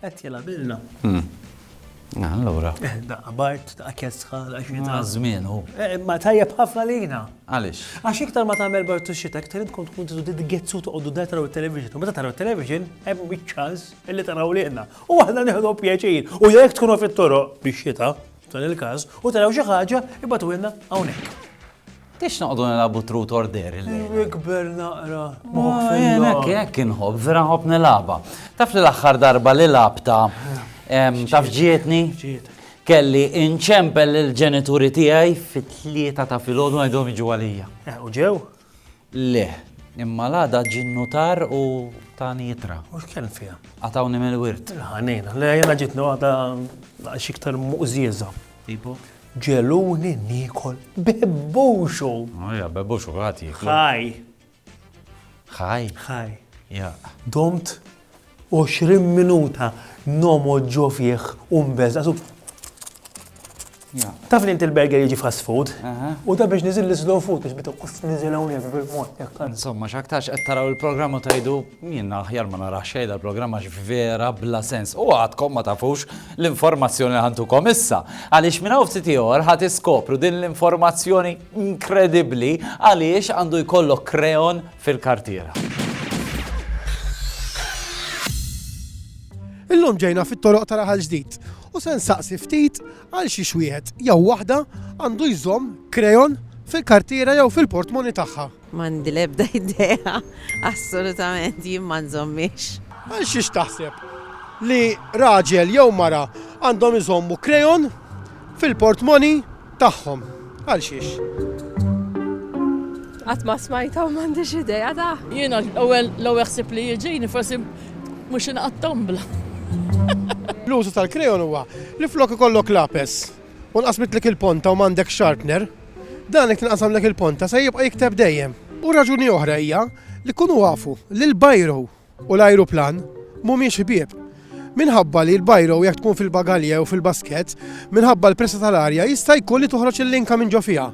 Qed jilgħabilna. Allura. Eh, daqqa bart, daqqa kesħa, daqqa xita. Ma żmien hu. Eh, ma tajjeb ħafna lina. Għaliex? Għax iktar ma tagħmel bart u xita, iktar tkun tkun tidu titgezzu toqgħodu da taraw it-television. Meta taraw it-television, hemm biċ-ċans illi taraw liqna. U aħna nieħdu pjaċir. U jekk tkunu fit-toroq biex xita, f'dan il-każ, u taraw xi ħaġa, ibatu ilna hawnhekk. Tix noqdu nilabu trut order il-lejl. Nikber naqra. Jien hekk hekk inħobb, vera nħobb nilaba. Taf li l-aħħar darba li labta taf ġietni? Kelli inċempel il-ġenituri tiegħi fit-tlieta ta' filgħodu għedhom iġu għalija. Eh, u ġew? Le, imma l-għada ġinnu tar u tani jitra. U x'kien fiha? Għatawni mill-wirt. Ħanina, le jena ġitni għada xiktar muqżieża. Tipo? Ġegħluni niekol bebbuxu. Oh, ja, bebbuxu, kulħadd jieklu. Ħaj. Ħaj? Ħaj. Ja. Domt 20 minuta nomo ġo fih u mbeżqa. Taf li inti l-burger jiġi fast food. U da biex nizil l-slow food biex bitu kuss nizil hawnhekk bil-mod. Insomma, x'aktarx qed taraw il-programm u tajdu Jien aħjar ma narax xejn dal-programm għax vera bla sens u għadkom ma tafux l-informazzjoni li ħantukom issa. Għaliex minn hawn ftit ieħor ħa tiskopru din l-informazzjoni inkredibbli għaliex għandu jkollok kreon fil-kartiera. Illum ġejna fit-toroq ta' Raħal Ġdid u se nsaqsi ftit għal xi wieħed jew waħda għandu jżomm kreon fil-kartiera jew fil-portmoni tagħha. M'għandi l-ebda idea, assolutament, jien ma nżommhiex. Għal xiex taħseb li raġel jew mara għandhom iżommu krejon fil-portmoni tagħhom? Għal xiex? Qatt ma smajta u m'għandix idea da. Jiena l-ewwel l-ewwel ħsib li jiġini forsi mhux inqatt tombla. L-użu tal-krejon huwa li flok ikollok lapes u nqasmitlek il-ponta u m'għandek sharpener, Dan li tinqasam dik il-ponta se jibqa' jikteb dejjem. U raġuni oħra hija li kunu afu li l-bajro u l-ajruplan mhumiex ħbieb. Minħabba li l-bajro jekk tkun fil-bagalje jew fil-baskett, minħabba l-pressa tal-arja jista' jkun li toħroġ il-linka minn ġo fiha.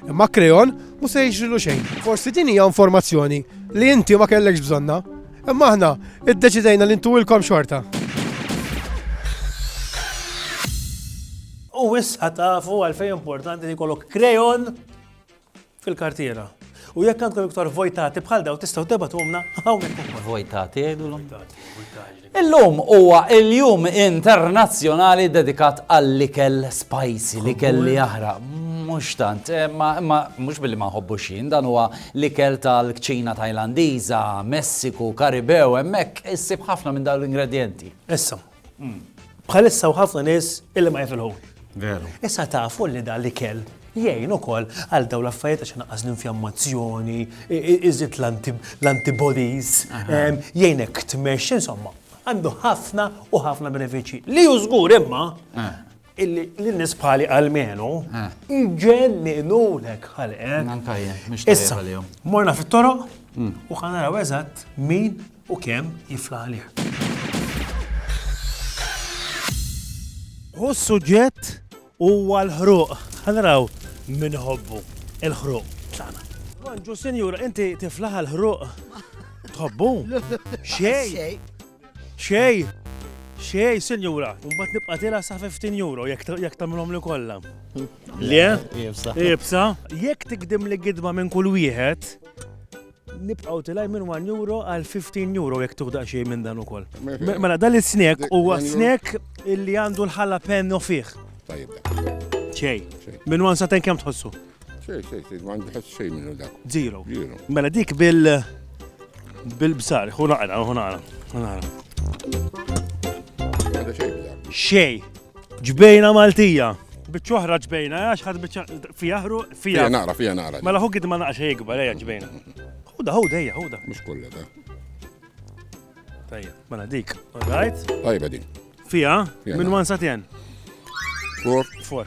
Imma krejon mhu se jiġrilu xejn. Forsi din hija informazzjoni li inti ma kellekx bżonnha, imma aħna iddeċidejna li ntuwilkom xorta. U issa tafu għalfejn importanti li jkollok krejon fil-kartiera. U jekk għandkom iktar vojtati bħal daw tistgħu tibgħatumna hawnhekk. Vojtati jgħidulhom. Illum huwa il-jum internazzjonali dedikat għall-ikel spicy, l-ikel li jaħraq. Mhux tant, eh, imma mhux billi ma nħobbu xin, dan huwa l-ikel tal-kċina Tajlandiża, Messiku, Karibew, hemmhekk issib ħafna minn dawn l-ingredjenti. Issa, Bħalissa u ħafna nies illi ma jifilħux. Veru. Issa tafu li dan li kell jgħin ukoll għal daw l-affarijiet għax naqqas l-infjammazzjoni, iżid l-antibodies, jgħinek tmexx, insomma, għandu ħafna u ħafna benefiċċji. Li jużgur imma eh. illi l-nies bħali għalmenu jġenninulek ħalqek. Manka jien, mhux tajjeb għalihom. Morna fit-toroq mm. u ħanaraw eżatt min u kemm jifla għalih. Hu s-suġġett huwa l-ħruq. Ħanaraw min ħobbu il-ħruq tagħna. Ġu senjura, inti tiflaħ l-ħruq. Tħobbu? Xej. Xej! Xej, sinjura, mbagħad nibqa' tilha sa 15 euro jekk jekk tagħmilhomli kollha. Le? Ibsa. Ibsa, jekk tikdim li gidma minn kull wieħed, nibqgħu tilaj minn 1 euro għal 15 euro jekk tuħda xej minn dan ukoll. Mela dan is-snack huwa snack illi għandu l-ħala penno fih. Tajjeb. Xej. Minn 1 sa 10 kemm tħossu? Xej, xej, xej, ma għandi ħadd xejn minnu dak. Zero. Zero. Mela dik bil bil-bsar, hu naqra, hu naqra, hu naqra. Xej, ġbejna Maltija. Biċċoħra ġbejna, għax ħad biċċa fijaħru, fijaħru. Naqra, fijaħru, naqra. Mela hu gid ma naqra xej gbar, eja ġbejna. Huda, huda, eja, huda. Mux kolla da. Tajja, mela dik, all right? Tajba din. Fija, minn wan satjen. Four. Four.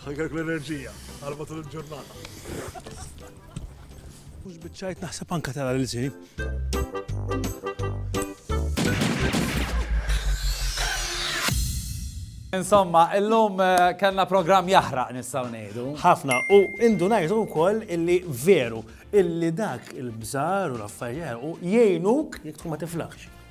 Ħajkek l-enerġija għal matul il-ġurnata. Mux bieċajt naħseb anka tara l-zi. Insomma, illum eh, kellna program jahraq nistaw nejdu. Ħafna, u indu najdu u koll illi veru, illi dak il-bżar u l-affarijiet u jgħinuk jek tkun ma tiflaħx.